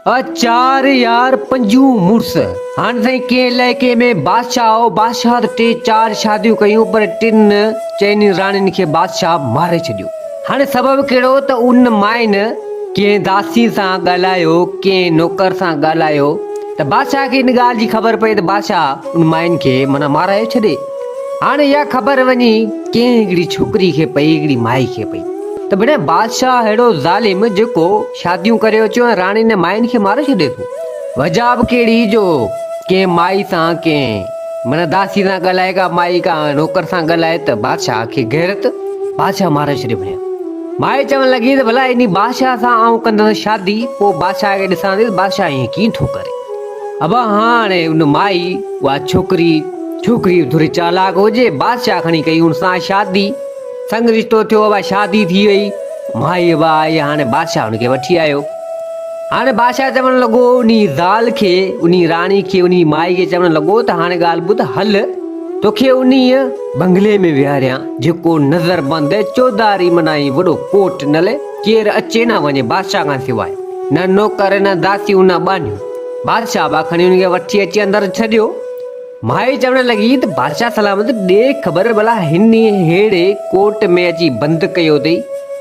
ها چار يار پنجون مڙس. هاڻ تائين ڪنهن علائقي ۾ بادشاهه هو، بادشاهه ته ٽي چار شاديون ڪيون پر ٽن چئنين راڻين کي بادشاهه ماري ڇڏيو. هاڻي سبب ڪهڙو ته ان مائين ڪنهن داسي سان ڳالهايو، ڪنهن نوڪر سان ڳالهايو ته بادشاهه کي ان ڳالهه جي خبر پئي ته بادشاهه ان مائين کي معنيٰ مارايو ڇڏي. هاڻي اها خبر وڃي ڪنهن هڪڙي ڇوڪري کي پئي، هڪڙي مائي کي پئي ته ڀڻيا بادشاهه اهڙو ظالم جيڪو، شاديون ڪري اچيو ۽ راڻي ني مائين کي ماري ڇڏي ٿو. وجهه به ڪهڙي جو ڪنهن مائي سان ڪنهن معنيٰ داسي سان ڳالهائي ڪا مائي ڪا نوڪر سان ڳالهائي ته بادشاهه کي غيرت بادشاهه ماري ڇڏي وڃي. مائي چوڻ لڳي ته ڀلا انهي بادشاهه سان آئون ڪندس شادي پوء بادشاهه کي ڏسان ٿي ته بادشاهه ائين ڪيئن ٿو ڪري. ابا هاڻي ان مائي اها ڇوڪري ڇوڪري ٿوري چالاڪ هجي بادشاهه کڻي ڪئي ان سان شادي. سنگ رشتو ٿيو اها شادي ٿي وئي مائي به آئي هاڻي بادشاهه ان کي وٺي آيو هاڻي بادشاهه چوڻ لڳو اني زال کي اني راڻي کي اني مائي کي چوڻ لڳو ته هاڻي ڳالهه ٻڌ هل توکي اني بنگلي ۾ ويهاريان جيڪو نظر بند چوڌاري منائين وڏو ڪوٽ نل ڪير اچي نه وڃي بادشاهه کان سواء نه نوڪر نه داسيون نه ٻانهيون بادشاهه به کڻي ان کي وٺي اچي اندر ڇڏيو مائي چوڻ لڳي ته بادشاهه سلامت ڏي خبر ڀلا هن ههڙي ڪوٽ ۾ اچي بند ڪيو اٿئي.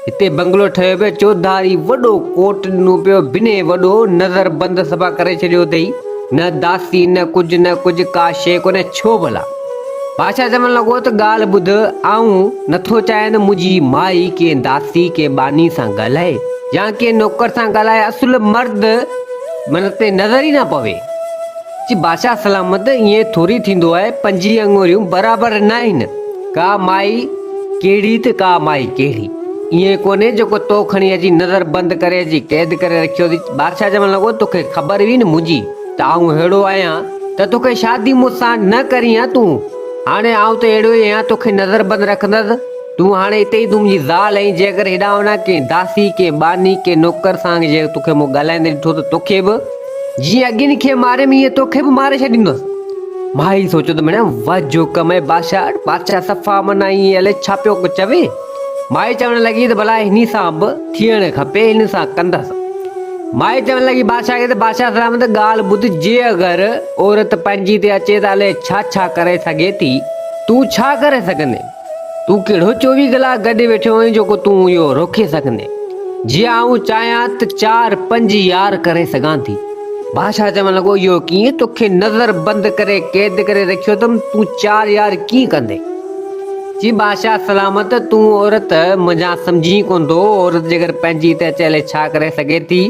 هتي بنگلو ٺهيو پيو چوڌاري وڏو ڪوٽ ڏنو پيو بنهي وڏو نظر بند صفا ڪري ڇڏيو اٿئي نه داسي نه ڪجهه نه ڪجهه ڪا شيء ڪونهي ڇو ڀلا؟ بادشاهه چوڻ لڳو ته ڳالهه ٻڌ آئون نٿو چاهيان ته منهنجي مائي ڪنهن داسي ڪنهن ٻانهي سان ڳالهائي يا ڪنهن نوڪر سان ڳالهائي اصل مرد من تي نظر ئي نه پوي. چي بادشاهه سلامت ائين ٿوري ٿيندو آهي، پنجين اڱوريون برابر ناهن، ڪا مائي ڪهڙي ته ڪا مائي ڪهڙي، ائين ڪونهي جيڪو تو کڻي اچي نظر بند ڪري اچي قيد ڪري رکيو اٿئي، بادشاهه چوڻ لڳو توکي خبر هئي نه منهنجي ته آئون ههڙو آهيان ته توکي شادي مون سان نه ڪرڻي آهي تون هاڻي آئون ته اهڙو ئي آهيان توکي نظر بند رکندس تون هاڻي اتي ئي تون منهنجي زال آهين جيڪر هيڏانهن هوڏانهن ڪنهن داسي ڪنهن ٻانهي ڪنهن نوڪر سان جي توکي مون ڳالهائيندي ڏٺو ته توکي به جيئن اڳين کي ماريم ايئن توکي به ماري ڇڏيندس. مائي سوچيو ته مڙيا وات جو ڪم اهي بادشاهه وٽ، بادشاهه صفا من ائين الائي ڇا پيو چوي. مائي چوڻ لڳي ته ڀلا هني سان به ٿيڻ کپي هن سان ڪندس. مائي چوڻ لڳي بادشاهه کي ته بادشاهه سلامت ڳالهه ٻڌ جي اگر عورت پنهنجي تي اچي ته الائي ڇا ڇا ڪري سگهي ٿي تون ڇا ڪري سگهندين. تون ڪهڙو چوويهه ڪلاڪ گڏ ويٺو هئين جو ڪو تون اهو روڪي سگهندين؟ جي آئون چاهيان ته چار پنج يار ڪري سگهان ٿي. بادشاهه چوڻ لڳو، اهو ڪيئن؟ توکي نظر بند ڪري قيد ڪري رکيو اٿم، تون چار يار ڪيئن ڪندين؟ چي، بادشاهه سلامت، تون عورت منجهان سمجهين ڪونه ٿو، عورت جيڪر پنهنجي ته چيلي ڇا ڪري سگهي ٿي؟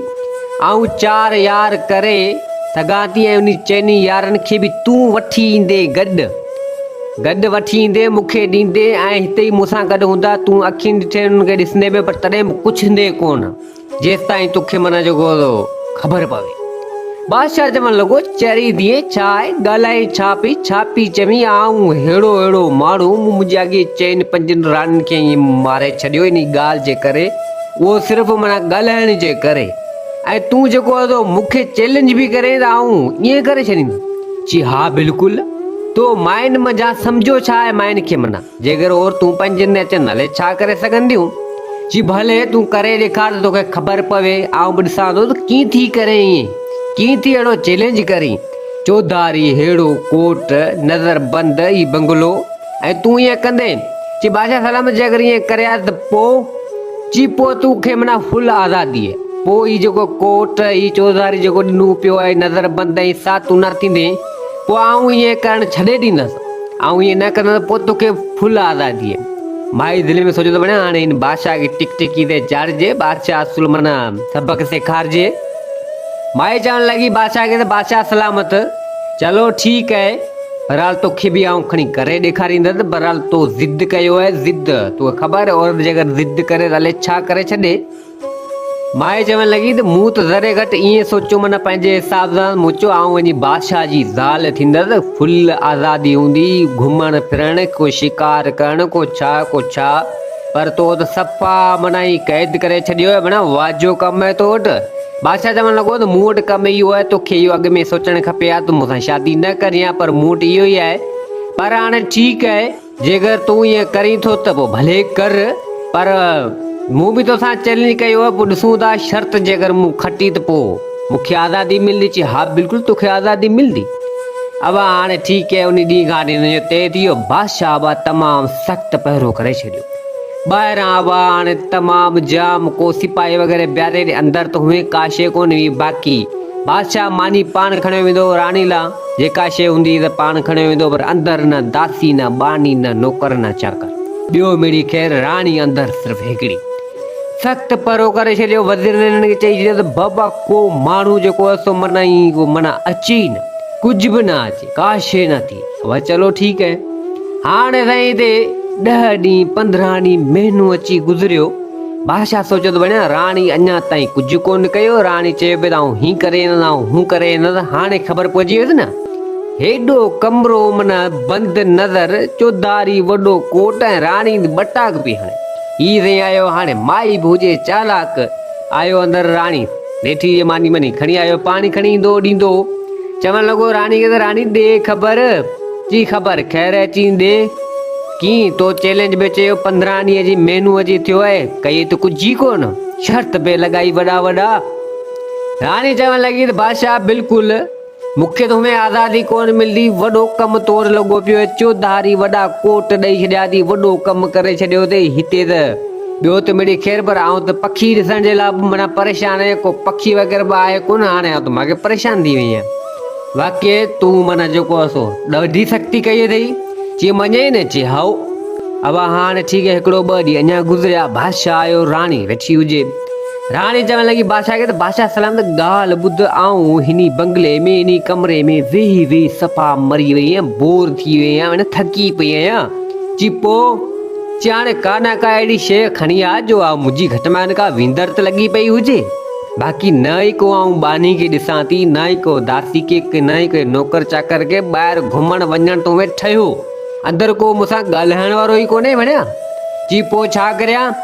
آئون چار يار ڪري سگهان ٿي ۽ انهن چئني يارن کي به تون وٺي ايندين گڏ. گڏ وٺي ايندين، مون کي ڏيندين ۽ هتي ئي مون سان گڏ هوندا. تون اکين ڏٺين، انهن کي ڏسندين به پر تڏهن به پڇندين ڪونه، جيستائين تو کي معنيٰ جيڪو هوندو، خبر پوي. بادشاهه چوڻ لڳو، چري ڌيئي، ڇا آهي؟ ڳالهائين ڇا پئي؟ ڇا پئي چوين؟ آئون ههڙو ههڙو ماڻهو، مون منهنجي اڳي چئن پنجن راڻين کي ائين ماري ڇڏيو، انهيء ڳالهه جي ڪري، اهو صرف معنيٰ ڳالهائڻ جي ڪري. ۽ تون جيڪو اهدو مون کي چئلينج به ڪرين ته آئون ائين ڪري ڇڏيندس. چي ها بلڪل. تو ماين منجهان سمجهيو ڇا آهي ماين کي منا جيڪر عورتون پنهنجن ۾ اچن هلي ڇا ڪري سگهنديون؟ چي ڀلي تون ڪري ڏيکار ته توکي خبر پوي آئون به ڏسان ٿو ته ڪيئن ٿي ڪرين ائين ڪيئن ٿي اهڙو چئلينج ڪرين چوڌاري ههڙو ڪوٽ نظر بند هي بنگلو ۽ تون ائين ڪندين؟ چي بادشاهه سلامت جي اگر ائين ڪري ها ته پوء؟ چي پوء تون کي منا فل آزاديء. پوء هي جيڪو ڪوٽ، هي چوڌاري جيڪو ڏنو پيو آهي نظر بند ۽ سا تون نه ٿيندين، پوء آئون ائين ڪرڻ ڇڏي ڏيندس. آئون ائين نه ڪندس ته پوء توکي فل آزاديء. مائي دل ۾ سوچيو ته وڃان هاڻي هن بادشاهه کي ٽڪ ٽڪي تي چاڙهجي، بادشاهه اصل منا سبق سيکارجي. مائي چوڻ لڳي بادشاهه کي ته بادشاهه سلامت! چلو ٺيڪ اهي برحال توکي به آئون کڻي ڪري ڏيکاريندس برحال تو ضد ڪيو اهي ضد تو خبر عورت جي اگر ضد ڪري ته الي ڇا ڪري ڇڏي مائي چوڻ لڳي ته مون ته ذري گهٽ ائين سوچيو من پنهنجي حساب سان مون چيو آئون وڃي بادشاهه جي زال ٿيندس فل آزادي هوندي گهمڻ ڦرڻ ڪو شڪار ڪرڻ ڪو ڇا ڪو ڇا پر تو ته صفا من قيد ڪري ڇڏيو اهي منا واجهو ڪم اهي تو وٽ بادشاهه چوڻ لڳو ته مون وٽ ڪم اهو آهي، توکي اهو اڳ ۾ سوچڻ کپي ها ته مون سان شادي نه ڪرين ها پر مون وٽ اهو ئي آهي. پر هاڻي ٺيڪ آهي، جيڪر تون ائين ڪرين ٿو ته پوء ڀلي ڪر، پر مون به توسان چئلينج ڪيو آهي، پوء ڏسون ٿا، شرط جيڪر مون کٽي ته پوء مون کي آزادي ملندي؟ چي ها بلڪل توکي آزادي ملندي. ابا هاڻي ٺيڪ آهي، انهي ڏينهن کان وٺي هن جو طئي ٿي ويو، بادشاهه ابا تمام سخت پهرو ڪري ڇڏيو. ٻاهران هوا هاڻي ته تمام جام، ڪو سپاهي وغيره بيهاري ڏي، اندر ته هونئن ڪا شيء ڪونه هئي باقي، بادشاهه ماني پاڻ کڻيو ويندو هو، راڻي لا جيڪا شيء هوندي هئي ته پاڻ کڻيو ويندو هو، پر اندر نه داسي، نه ٻانهي، نه نوڪر، نه چاڪر، ٻيو مڙئي خير راڻي اندر صرف هڪڙي. سخت پرو ڪري ڇڏيو، وزيرن هنن کي چئي ڇڏيو ته بابا ڪو ماڻهو جيڪو هو سو منئين، اهو منئين اچي ئي نه، ڪجهه به نه اچي، ڪا شيء نه ٿئي. وئي چلو ٺيڪ اهي هاڻي سائين هتي ڏهه ڏينهن پندرهن ڏينهن مهينو اچي گذريو بادشاهه سوچيو ته وڃا راڻي اڃا تائين ڪجهه ڪونه ڪيو راڻي چيو پئي ته آئون هي ڪري ايندس آئون هو ڪري ايندس هاڻي خبر پئجي ويس نه هيڏو ڪمرو من بند نظر چوڌاري وڏو ڪوٽ ۽ راڻي ٻٽاڪ پئي هڻي هي سائين آيو هاڻي مائي به هجي چالاڪ آيو اندر راڻي نيٺي اهي ماني مڃي کڻي آيو، پاڻي کڻي ايندو ڏيندو هو، چوڻ لڳو راڻي کي ته راڻي ڏي خبر، چي خبر خير اچين ڏي، ڪين تو چئلينج به چيو پندرهن ڏينهن جي مهنو اڄ ٿيو اهي، ڪيئي ته ڪجهه ئي ڪونه، شرط به لڳائي وڏا وڏا، راڻي چوڻ لڳي ته بادشاهه بلڪل. مون کي تو ۾ آزادي ڪونه ملندي، وڏو ڪم تور لڳو پيو اهي چوڌاري وڏا ڪوٽ ڏئي ڇڏيا اٿئي، وڏو ڪم ڪري ڇڏيو اٿئي، هتي ته ٻيو ته مڙئي خير پر آئون ته پکي ڏسڻ جي لاء به معنيٰ پريشان آهيان، ڪو پکي وغيره به آهي ڪونه، هاڻي آئون ته ماڳهين پريشان ٿي وئي آهيان. واقعي تون معنيٰ جيڪو آهي سو ڏاڍي سختي ڪئي اٿئي؟ چي مڃئي نه، چي هائو. اوا هاڻي ٺيڪ هڪڙو ٻه ڏينهن اڃا گذريا، بادشاهه آيو، راڻي ويٺي هجي. راڻي چوڻ لڳي بادشاهه کي ته بادشاهه سلامت ڳالهه ٻڌ آئون هني بنگلي ۾ انهي ڪمري ۾ ويهي ويهي صفا مري وئي آهيان بور ٿي وئي آهيان ۽ ٿڪي پئي آهيان چي پو چي هاڻي ڪا نه ڪا اهڙي شيء کڻي آ جو آ منهنجي گهٽ مان ڪا ويندر ته لڳي پئي هجي باقي نه ئي ڪو آئون ٻانهي کي ڏسان ٿي نه ئي ڪو داسي کي نه ئي ڪنهن نوڪر چاڪر کي ٻاهر گهمڻ وڃڻ تو ۾ ٺهيو اندر ڪو مون سان ڳالهائڻ وارو ئي ڪونهي ڀڻيا چي پو ڇا ڪريان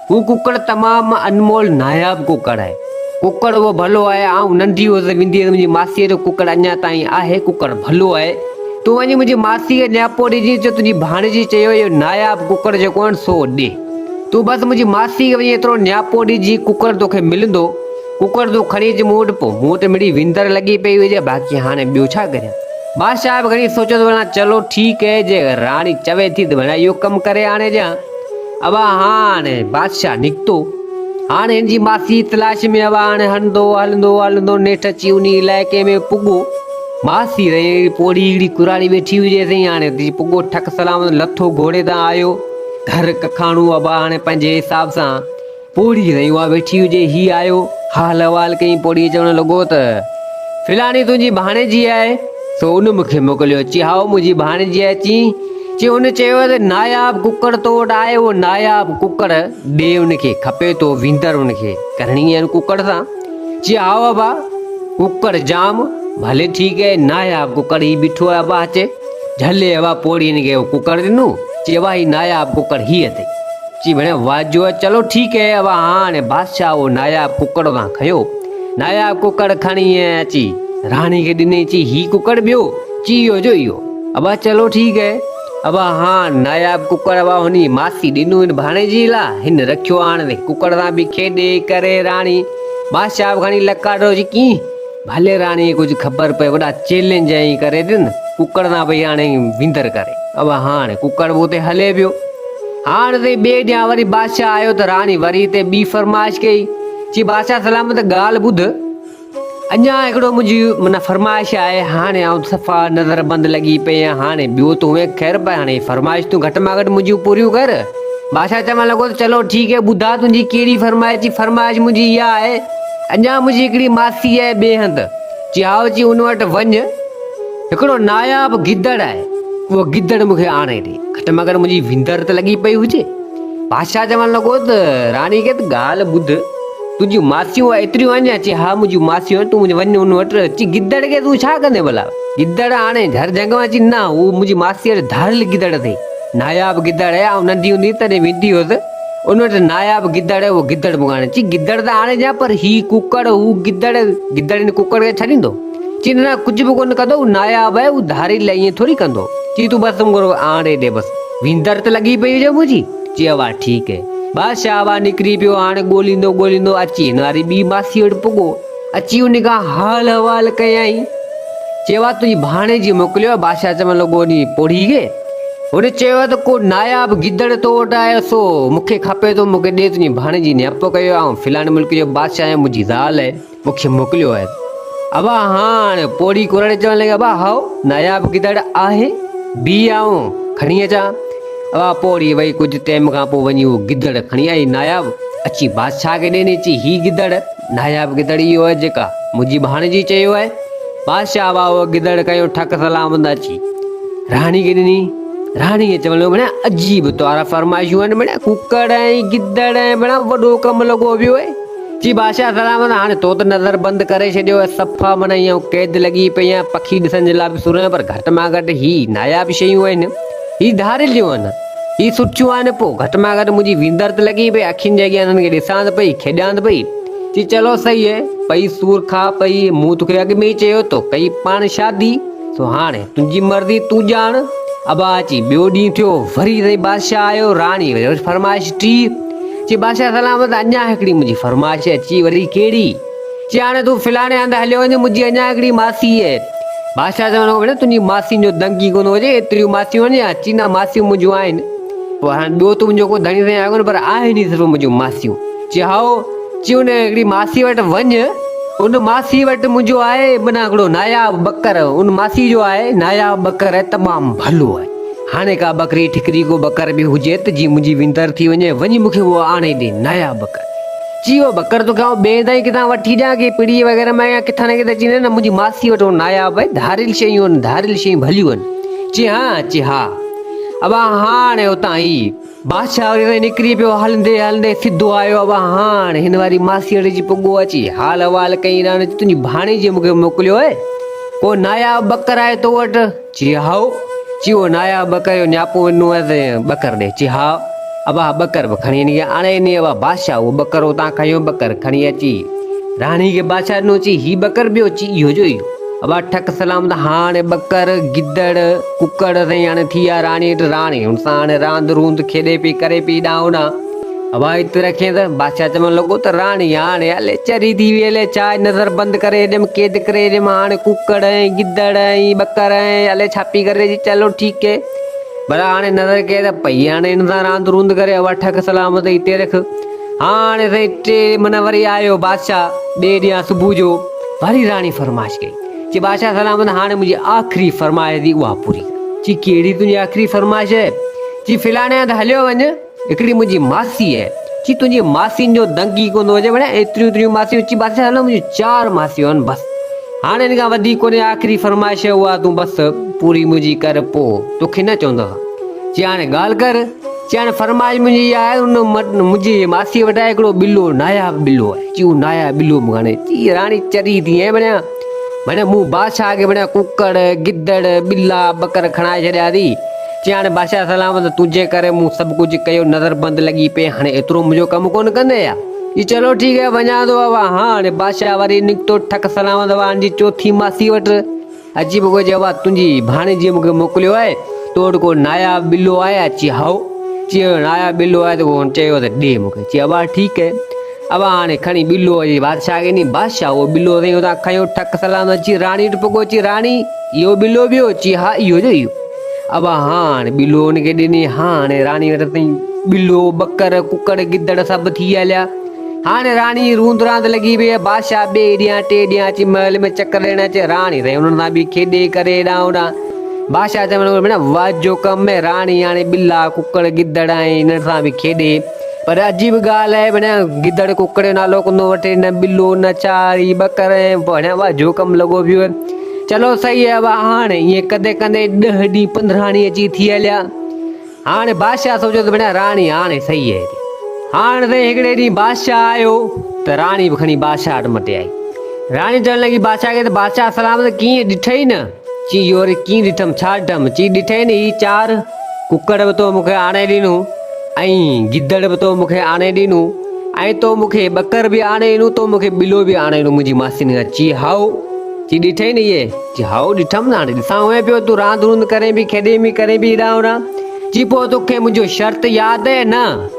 هو ڪڪڙ تمام انمول ناياب ڪڪڙ آهي. ڪڪڙ اهو ڀلو آهي. آئون ننڍي هئس، ويندي هئس منهنجي ماسيء جو ڪڪڙ اڃا تائين آهي. ڪڪڙ ڀلو آهي. تون وڃي منهنجي ماسيء کي نياپو ڏجينس جو تنهنجي ڀاڻيجي چيو اهو ناياب ڪڪڙ جيڪو آهن سو ڏي. تون بس منهنجي ماسيء کي وڃي ايترو نياپو ڏجي ڪڪڙ توکي ملندو. ڪڪڙ تون کڻي اچ مون وٽ پوء مون وٽ مڙئي وندر لڳي پئي هجي باقي هاڻي ٻيو ڇا ڪريان. بادشاهه به گهڻي سوچيو ته وڻان چلو ٺيڪ اهي جي راڻي چوي ٿي ته وڻان اهو ڪم ڪري آڻي ڏيان. اوا هاڻ بادشاهه نڪتو. هاڻ هن جي ماسيء جي تلاش ۾ اوا هاڻ هلندو هلندو هلندو نيٺ اچي انهي علائقي ۾ پڳو. ماسي رئي پوڙهي هڪڙي ڪراڙي ويٺي هئي جيسين هاڻ اتي اچي پڳو ٺڪ سلامت لٿو گهوڙي تان آيو گهر ڪکاڻو اوا هاڻ پنهنجي حساب سان پوڙهي تائين اها ويٺي هجي، هي آيو، حال احوال ڪيائين، پوڙهي چوڻ لڳو ته، فلاڻي تنهنجي ڀاڻيجي آهي، سو ان مون کي موڪليو، چي هائو منهنجي ڀاڻيجي آهي، چين، چي ان چيو ته ناياب ڪڪڙ تو وٽ آهي، اهو ناياب ڪڪڙ ڏي ان کي، کپي تو ويندر ان کي ڪرڻي آهي ان ڪڪڙ سان، چي هائو ابا ڪڪڙ ڄام، ڀلي ٺيڪ آهي، ناياب ڪڪڙ هي بيٺو آهي ابا اچي. جهلي اهوا پوڙهي هن کي اهو ڪڪڙ ڏنو، چي اهوا هي ناياب ڪڪڙ هي اٿئي. چي ڀيڻ واجو اهي چلو ٺيڪ اهي اهوا هاڻ بادشاهه اهو ناياب ڪڪڙ اتان کنيو. ناياب ڪڪڙ کڻي اهي اچي راڻي کي ڏني چي هي ڪڪڙ ٻيو؟ چي اهو جو اهو. اهوا چلو ٺيڪ اهي اهوا هاڻ ناياب ڪڪڙ اهوا هن جي ماسي ڏنو هن ڀاڻيجي لا هن رکيو هاڻ هن ڪڪڙ سان به کيڏي ڪري راڻي بادشاهه به کڻي لڪاٽو چي ڪين. ڀلي راڻي ڪجهه خبر پئي وڏا چئلينج ائين ڪري ڏن ڪڪڙ نا پئي هاڻي وندر ڪري او هاڻي ڪڪڙ به اتي هلي ويو هاڻ تي ٻي ڏيان وري بادشاهه آيو ته راڻي وري هتي ٻي فرمائش ڪئي چي بادشاهه سلامت ڳالهه ٻڌ اڃا هڪڙو منهنجي من فرمائش آهي هاڻي آئون صفا نظر بند لڳي پئي آهيان هاڻي ٻيو تون هي خير پئي هاڻي فرمائش تون گهٽ مان گهٽ منهنجيون پوريون ڪر بادشاهه چوڻ لڳو ته چلو ٺيڪ هي ٻڌا تنهنجي ڪهڙي فرمائش چي فرمائش منهنجي اها آهي اڃا منهنجي هڪڙي ماسيء ٻئي هنڌ چيائو چي ان وٽ وڃ هڪڙو ناياب گدڙ آهي اهو گدڙ مون کي آڻي ڏي گهٽ مگر منهنجي وندر ته لڳي پئي هجي بادشاهه چوڻ لڳو ته راڻي کي ته ڳالهه ٻڌ تنهنجيون ماسيون ايتريون آهن يا چي ها منهنجون ماسيون آهن تون وڃ ان وٽ چي گدڙ کي تون ڇا ڪندين ڀلا گدڙ آڻي گهر جهنگ مان چي نه هو منهنجي ماسيء جو ڌاڙيل گدڙ اٿئي ناياب گدڙ آهي آئون ننڍي هوندي هيس تڏهن ويندي هيس ان وٽ ناياب گدڙ اهو گدڙ مون کان آڻي چي گدڙ ته آڻي ڏيان پر هي ڪڪڙ هو گدڙ گدڙ هن ڪڪڙ کي ڇڏيندو چي نه نه ڪجهه به ڪونه ڪندو هو ناياب آهي هو ڌاري لاء ائين ٿوري ڪندو چي تون بس مون کي آڻي ڏي بس ويندر ته لڳي پئي هجي منهنجي چي اوا ٺيڪ هي بادشاهه اوا نڪري پيو هاڻي ڳوليندو ڳوليندو اچي هن واري ٻي ماسي وٽ پڳو اچي ان کان حال احوال ڪيائين چيو آ تنهنجي ڀاڻيجي موڪليو آ بادشاهه چوڻ لڳو انهي پوڙهي کي هن چيو ته ڪو ناياب گدڙ تو وٽ آيو سو مون کي کپي ٿو مون کي ڏي تنهنجي ڀاڻيجي نياپو ڪيو آئون فلاڻي ملڪ جو بادشاهه آهيان منهنجي زال مون کي موڪليو آهي ابا هاڻ پوڙهي ڪورڙي چوڻ لڳي ابا هائو ناياب گدڙ آهي بي آئون کڻي اچان ابا پوڙهي وئي ڪجهه ٽيم کان پوء وڃي اهو گدڙ کڻي آئي ناياب اچي بادشاهه کي ڏني چي هي گدڙ ناياب گدڙ اهو آهي جيڪا منهنجي ڀاڻيجي چيو آهي بادشاهه واهو گدڙ ڪيو ٺڪ سلام هنڌ اچي راڻي کي ڏني راڻي کي چوڻ لڳو ڀيڻا عجيب توهارا فرمائشون آهن ڀيڻا ڪڪڙ ۽ گدڙ ۽ ڀيڻا وڏو ڪم لڳو ويو آهي جي بادشاهه سلام هنڌ هاڻي تو ته نظر بند ڪري ڇڏيو آهي صفا معنيٰ ائين قيد لڳي پئي آهي پکي ڏسڻ جي لاء به سرهه پر گهٽ مان گهٽ هي ناياب شيون آهن هي ڌاڙيل جون آهن هي سرچيون آهن پوء گهٽ مان گهٽ منهنجي ويندر ته لڳي پئي اکين جي اڳيان انهن کي ڏسان ته پئي کيڏان ته پئي چي چلو صحيح هي پئي سور کاء پئي مون توکي اڳ ۾ ئي چيو تو ڪئي پاڻ شادي سو هاڻي تنهنجي مرضي تون ڄاڻ ابا اچي ٻيو ڏينهن ٿيو وري سائين بادشاهه آيو راڻي وري فرمائش ٽي چي بادشاهه سلامت اڃا هڪڙي منهنجي فرمائش اچي وري ڪهڙي چي هاڻي تون فلاڻي هنڌ هليو وڃ، منهنجي اڃا هڪڙي ماسي هي. بادشاهه چوڻ لڳو، ڀيڻ تنهنجي ماسين جو دنگ ئي ڪونه هجي، ايتريون ماسيون آهن ڇا؟ چي نه ماسيون منهنجون آهن. پوء هاڻي ٻيو تون منهنجو ڪو ڌڻي سائين آهيو ڪونه، پر آهن ئي صرف منهنجون ماسيون. چي هائو. چي ان هڪڙي ماسي وٽ وڃ، ان ماسي وٽ منهنجو آهي منا هڪڙو ناياب ٻڪر، ان ماسي جو آهي ناياب ٻڪر تمام ڀلو آهي. هاڻي ڪا ٻڪري ٺڪري ڪو ٻڪر به هجيت جي منهنجي ويندر ٿي وڃي، وڃي مون کي اهو آڻي ڏي ناياب ٻڪر. چيو، ٻڪر توکي آئون ٻين هنڌان ئي ڪٿان وٺي ڏيان، ڪنهن پڙي وغيره مان يا ڪٿان نه ڪٿان اچي نه نه منهنجي ماسيء وٽ هو ناياب ۽ ڌاريل شيون آهن، ڌاريل شيون ڀليون آهن. چي ها، چي ها. ابا هاڻ اتان هي بادشاهه وٽ تائين نڪري پيو، هلندي هلندي سڌو آيو ابا هاڻ هن واري ماسيء وٽ اچي پڳو، اچي حال احوال ڪيائين رانجهه، تنهنجي ڀاڻيجيء مون کي موڪليو آهي، ڪو ناياب ٻڪر آهي تو وٽ؟ چي هائو، چي او ناياب ٻڪر جو نياپو ڏنو هئس ۽ ٻڪر ڏي. چي هائو، ابا ٻڪر به کڻي نيڪ آڻي ڏني ابا بادشاهه اهو ٻڪر اتان کنيو ٻڪر کڻي اچي راڻي کي بادشاهه ڏنو چي هي ٻڪر ٻيو چي اهو جو اهو ابا ٺڪ سلامت هاڻي ٻڪر گدڙ ڪڪڙ سائين هاڻي ٿي ويا راڻي وٽ راڻي هن سان هاڻي راند روند کيڏي پئي ڪري پئي ڏانهن ڏانهن هوائت پي رکين ته بادشاهه چوڻ لڳو ته راڻي هاڻي الي چري ٿي وئي الي ڇا نظر بند ڪري هيڏم قيد ڪري هيڏم هاڻي ڪڪڙ ۽ گدڙ ۽ ٻڪر ۽ الي ڇا پي ڪري جي چلو ٺيڪ هي ڀلا هاڻي نظر ڪيئي ته پئي هاڻي هن سان راند روند ڪري هوا ٺڪ سلامت هتي رک هاڻي سائين ٽي من وري آيو بادشاهه ٻئي ڏينهن صبح جو وري راڻي فرمائش ڪئي چي بادشاهه سلامت هاڻي منهنجي آخري فرمائش ٿي اها پوري ڪر چي ڪهڙي تنهنجي آخري فرمائش هي چي فلاڻي هنڌ هليو وڃ هڪڙي منهنجي ماسي آهي. چي تنهنجي ماسين جو دنگ ئي ڪونه هجي ڀلا ايتريون ايتريون ماسيون چي بادشاهه هلو منهنجيون چار ماسيون آهن بس هاڻ ان کان وڌيڪ ڪونهي آخري فرمائش آهي اها تون بس پوري منهنجي ڪر پو توکي نه چوندس چي هاڻي ڳالهه ڪر چي هاڻي فرمائش منهنجي اها آهي ان منهنجي ماسي وٽ آهي هڪڙو ٻلو ناياب ٻلو آهي چي اهو ناياب ٻلو مون کان آڻي چي راڻي چري ٿي هين ڀلا ڀلا مون بادشاهه کي ڀلا ڪڪڙ گدڙ ٻلا ٻڪر کڻائي ڇڏيا اٿي چيائين هاڻي بادشاهه سلامت تنهنجي ڪري مون سڀ ڪجهه ڪيو نظر بند لڳي پئي هاڻي ايترو منهنجو ڪم ڪونه ڪندين ڇا؟ چي چلو ٺيڪ آهي وڃان ٿو اوا هاڻي بادشاهه وري نڪتو ٺڪ سلامت وارن جي چوٿين ماسي وٽ اچي پيو چي اوا تنهنجي ڀاڻيجي مون کي موڪليو آهي تو وٽ ڪو ناياب ٻلو آهي ڇا؟ چي هائو چي ناياب ٻلو آهي ته چيو ته ڏي مون کي چي اوا ٺيڪ آهي اوهان هاڻي کڻي ٻلوء جي بادشاهه کي ڏي. بادشاهه اهو ٻلو سائين اتان کنيو، ٺڪ سلام اچي راڻي وٽ پڳو، چي راڻي! اهو ٻلو ويو؟ چي ها اهو جو اهو. اوهان هاڻ ٻلو ان کي ڏني. هاڻ راڻي وٽ سائين ٻلو، ٻڪر، ڪڪڙ، گدڙ سڀ ٿي هليا. هاڻ راڻي روند راند لڳي پيئي. بادشاهه ٻئي ڏينهن ٽئين ڏينهن اچي محل ۾ چڪر ڏيڻ اچي. راڻي سائين انهن سان به کيڏي ڪري هيڏانهن هوڏانهن. بادشاهه چوڻ لڳو ڀيڻ واهه جو ڪم اهي. راڻي هاڻي ٻلا، ڪڪڙ، گدڙ ۽ انهن سان به کيڏي. پر عجيب ڳالهه آهي ڀڻيا گدڙ ڪڪڙ جو نالو ڪونه وٺي نه ٻلو نه چاري ٻڪر ۽ ڀڻيا وا جو ڪم لڳو پيو آهي چلو صحيح آهي وا هاڻ ائين ڪندي ڪندي ڏهه ڏينهن پنڌراڻي اچي ٿي هليا هاڻي بادشاهه سوچيو ته ڀڻيا راڻي هاڻي صحيح آهي هاڻ سائين هڪڙي ڏينهن بادشاهه آيو ته راڻي به کڻي بادشاهه وٽ مٽي آئي راڻي چوڻ لڳي بادشاهه کي ته بادشاهه سلامت ڪيئن ڏٺئي نه چي اهو وري ڪيئن ڏٺم، ڇا ڏٺم؟ چي ڏٺئي نه هي چار ڪڪڙ به تو مون کي آڻي ڏنون ۽ گدڙ به تو مون کي آڻي ڏنون ۽ تو مون کي ٻڪر به آڻي ڏنون، تو مون کي ٻلو به آڻي ڏنون منهنجي ماسين کان. چي هائو! چي ڏٺئي نه اهي؟ چي هائو ڏٺم نه هاڻي ڏسان هئين پيو تون راند روند ڪرين پئي کيڏين پئي ڪرين پئي هيڏانهن هوڏانهن. چي پوء تو کي منهنجو شرط ياد اهي نه؟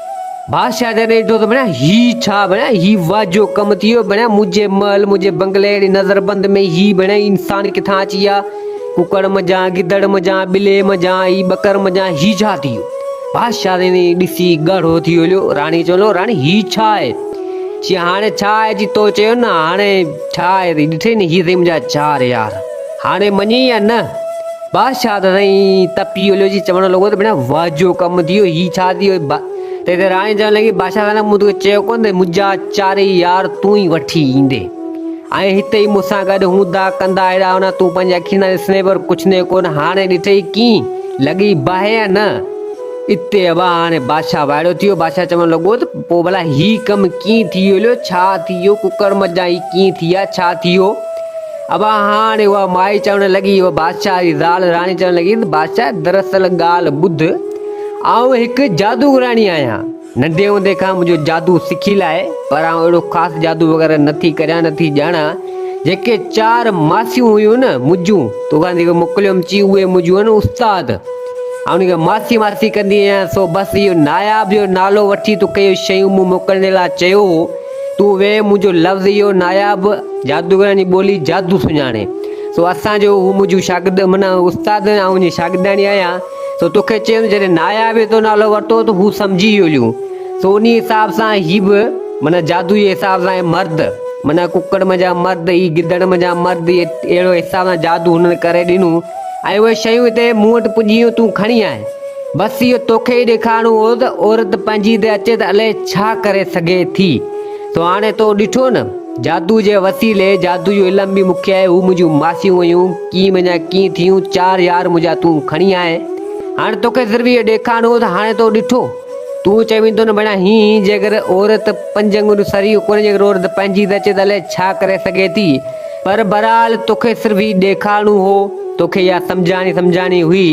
بادشاهه جڏهن ڏٺو ته ڀڻيا هي ڇا ڀڻيا هي واجهو ڪم ٿي ويو ڀڻيا منهنجي محل منهنجي بنگلي اهڙي نظر بند ۾ هي ڀڻيا انسان ڪٿان اچي ويا ڪڪڙ منجهان گدڙ منجهان ٻلي منجهان هي ٻڪر منجهان هي ڇا ٿي ويو بادشاهه تي ڏسي ڳاڙهو ٿي ويو هليو راڻي چون لو راڻي هي ڇا آهي چي هاڻي ڇا آهي جي تو چيو نه هاڻي ڇا آهي ڏٺي نه هي سي منهنجا چار يار هاڻي مڃي يا نه بادشاهه ته سائين تپي هليو جي چوڻ لڳو ته ڀيڻا واهه جو ڪم ٿي ويو هي ڇا ٿي ويو تنهن تي راڻي چوڻ لڳي بادشاهه سائين مون توکي چيو ڪونه ته منهنجا چارئي يار تون ئي وٺي ايندين ۽ هتي ئي مون سان گڏ هوندا ڪندا هيڏا هوندا تون پنهنجي اکين سان ڏسندين پر ڪڇندين ڪونه هاڻي ڏٺئي ڪيئن لڳي باهه يا نه اتي ابا هاڻي بادشاهه وائڙو ٿي ويو بادشاهه چوڻ لڳو ته پوء ڀلا هي ڪم ڪيئن ٿي هليو ڇا ٿي ويو ڪڪڙ مجان هي ڪيئن ٿي آ ڇا ٿي ويو ابا هاڻي اها مائي چوڻ لڳي، اها بادشاهه جي زال راڻي چوڻ لڳي ته بادشاهه دراصل ڳالهه ٻڌ، آئون هڪ جادوگراڻي آهيان، ننڍي هوندي کان منهنجو جادو سکيل آهي، پر آئون اهڙو خاص جادو وغيره نه ٿي ڪريان نه ٿي ڄاڻان، جيڪي چار ماسيون هيون نه منهنجون توکان جيڪي موڪليم چي اهي منهنجون هن استاد، آئون انهن کي ماسي ماسي ڪندي آهيان، سو بس اهو ناياب جو نالو وٺي توکي اهي شيون مون موڪلڻ لاء چيو هو، تون ويهه منهنجو لفظ اهو ناياب جادوگرن جي ٻولي جادو سڃاڻي سو اسان جو هو منهنجو شاگرد من استاد آئون هن جي شاگردياڻي آهيان سو توکي چيم جڏهن ناياب جو نالو ورتو ته هو سمجهي ويو ليون سو انهي حساب سان هي به من جادو جي حساب سان مرد من ڪڪڙ منجهان مرد هي گدڙ منجهان مرد اهڙو حساب سان جادو هنن ڪري ڏنو ۽ اهي شيون هتي مون وٽ پڄيون تون کڻي آء بس اهو توکي ئي ڏيکارڻو هو ته عورت پنهنجي تي اچي ته الائي ڇا ڪري سگهي ٿي. سو هاڻي تو ڏٺو نه. جادوء جي وسيلي، جادوء جو علم به مون کي آهي، هو منهنجون ماسيون هيون، ڪيئن منهنجا ڪيئن ٿيون، چار يار منهنجا تون کڻي آئين. هاڻي توکي صرف اهو ڏيکارڻو هو ته هاڻي تو ڏٺو. تون چوين ٿو نه ڀيڻا هين هين جيڪر عورت پنج آڱريون سري ڪونه جيڪر عورت پنهنجي تي اچي ته الائي ڇا ڪري سگهي ٿي. پر بھرحال توکي صرف ھي ڏيکارڻو ھو توکي اھا سمجھاڻي سمجھاڻي ھئي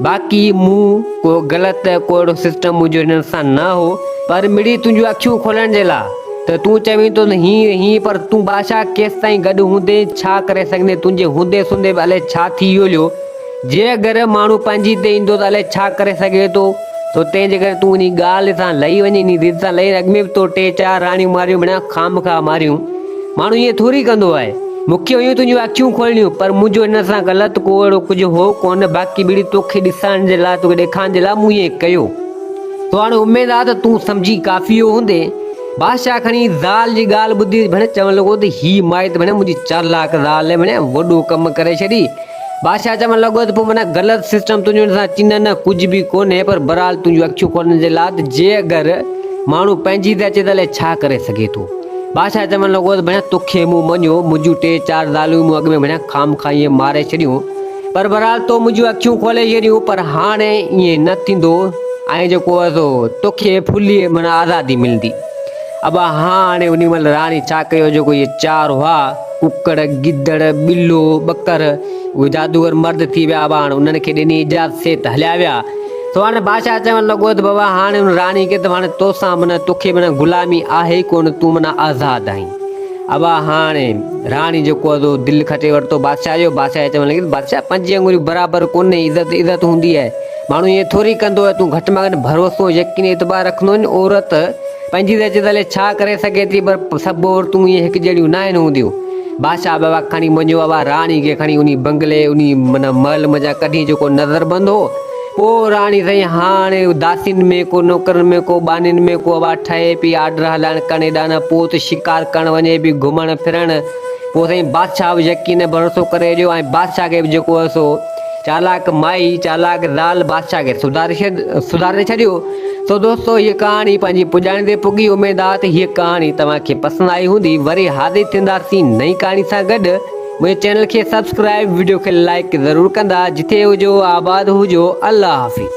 باقي مون ڪو غلط ڪو اھڙو سسٽم منھنجو ھنن سان نه ھو پر مڙئي تنھنجون اکيون کولڻ جي لا ته تون چوين ٿو ته ھيئن ھيئن پر تون بادشاھ ڪيستائين گڏ ھوندين ڇا ڪري سگھندين تنھنجي ھوندي سوندي به الائي ڇا ٿي يوليو جي اگر ماڻهو پنهنجي تي ايندو ته الائي ڇا ڪري سگهي ٿو، سو تنهن جي ڪري تون انهي ڳالهه سان لهي وڃ، انهي ضد سان لهي، اڳ ۾ به تو ٽي چار راڻيون ماريون بنا خامخواهه ماريون، ماڻهو ائين ٿوري ڪندو آهي، مون کي هيون تنهنجون اکيون کولڻيون، پر منهنجو هن سان غلط ڪو اهڙو ڪجهه هو ڪونه، باقي ٻيڙي تو کي ڏسائڻ جي لاء، تو کي ڏيکارڻ جي لاء مون ائين ڪيو. سو هاڻي اميد آهي ته تون سمجهي ڪافي ويو هوندين. بادشاهه کڻي زال جي ڳالهه ٻڌي ڀڻي چوڻ لڳو ته هيء مائي ته ڀڻي منهنجي چالاڪ زال وڻي وڏو ڪم ڪري ڇڏي، بادشاهه چوڻ لڳو ته پوء منا غلط سسٽم تنهنجو انسان چينه نه ڪجهه به ڪونهي پر برحال تنهنجون اکيون کولڻ جي لاء ته جي اگر ماڻهو پنهنجي تي اچي ته الائي ڇا ڪري سگهي ٿو بادشاهه چوڻ لڳو ته ڀيڻا توکي مون مڃيو منهنجون ٽي چار زالون مون اڳ ۾ ڀيڻا خام خا ائين ماري ڇڏيون پر برحال تو منهنجون اکيون کولي ڇڏيون پر هاڻي ائين نه ٿيندو ۽ جيڪو توکي ڦلي منا آزادي ملندي ابا هاڻي انهي مهل راڻي ڇا ڪيو جيڪو اهي چار هئا ڪڪڙ، گدڙ، ٻلو، ٻڪر اهي جادوگر مرد ٿي ويا ابا هاڻي انهن کي ڏني اجازت سي ته هليا ويا. سو هاڻي بادشاهه چوڻ لڳو ته بابا هاڻي ان راڻي کي ته هاڻي تو سان معنيٰ تو کي معنيٰ غلامي آهي ئي ڪونه تون معنيٰ آزاد آهين. ابا هاڻي راڻي جيڪو هو دل کٽي ورتو بادشاهه جو بادشاهه کي چوڻ لڳي ته بادشاهه پنج انڱريون برابر ڪونهي عزت عزت هوندي آهي. ماڻهو ائين ٿوري ڪندو ۽ تون گهٽ مان گهٽ ڀروسو، يقين ۽ اعتبار رکندو آهين. عورت پنهنجي ريت جي تلي ڇا ڪري سگهي ٿي پر سڀ عورتون ائين هڪ جهڙيون ناهن هونديون. بادشاهه بابا کڻي منهنجو بابا راڻي کي کڻي انهي بنگلي، انهي معنيٰ محل منجهان ڪڍي جيڪو نظربند هو. پوء راڻي سائين هاڻ داسين ۾ ڪو نوڪرن ۾ ڪو ٻانهين ۾ ڪو بابا ٺهي پئي آرڊر هلائڻ ڪن هيڏانهن نه پوء ته شڪار ڪرڻ وڃي پئي گهمڻ ڦرڻ. پوء سائين بادشاهه به يقين ۽ ڀروسو ڪري ڇڏيو ۽ بادشاهه کي به جيڪو هو سو. چالاڪ مائي، چالاڪ زال بادشاهه کي سڌاري ڇڏيو. سو دوستو هيء ڪهاڻي پنهنجي پڄاڻي تي پڳي، اميد آهي ته هيء ڪهاڻي توهان کي پسند آئي هوندي، وري حاضر ٿينداسين نئين ڪهاڻي سان گڏ، منهنجي چينل کي سبسڪرائيب، وڊيو کي لائيڪ ضرور ڪندا، جٿي هجو آباد هجو، الله حافظ.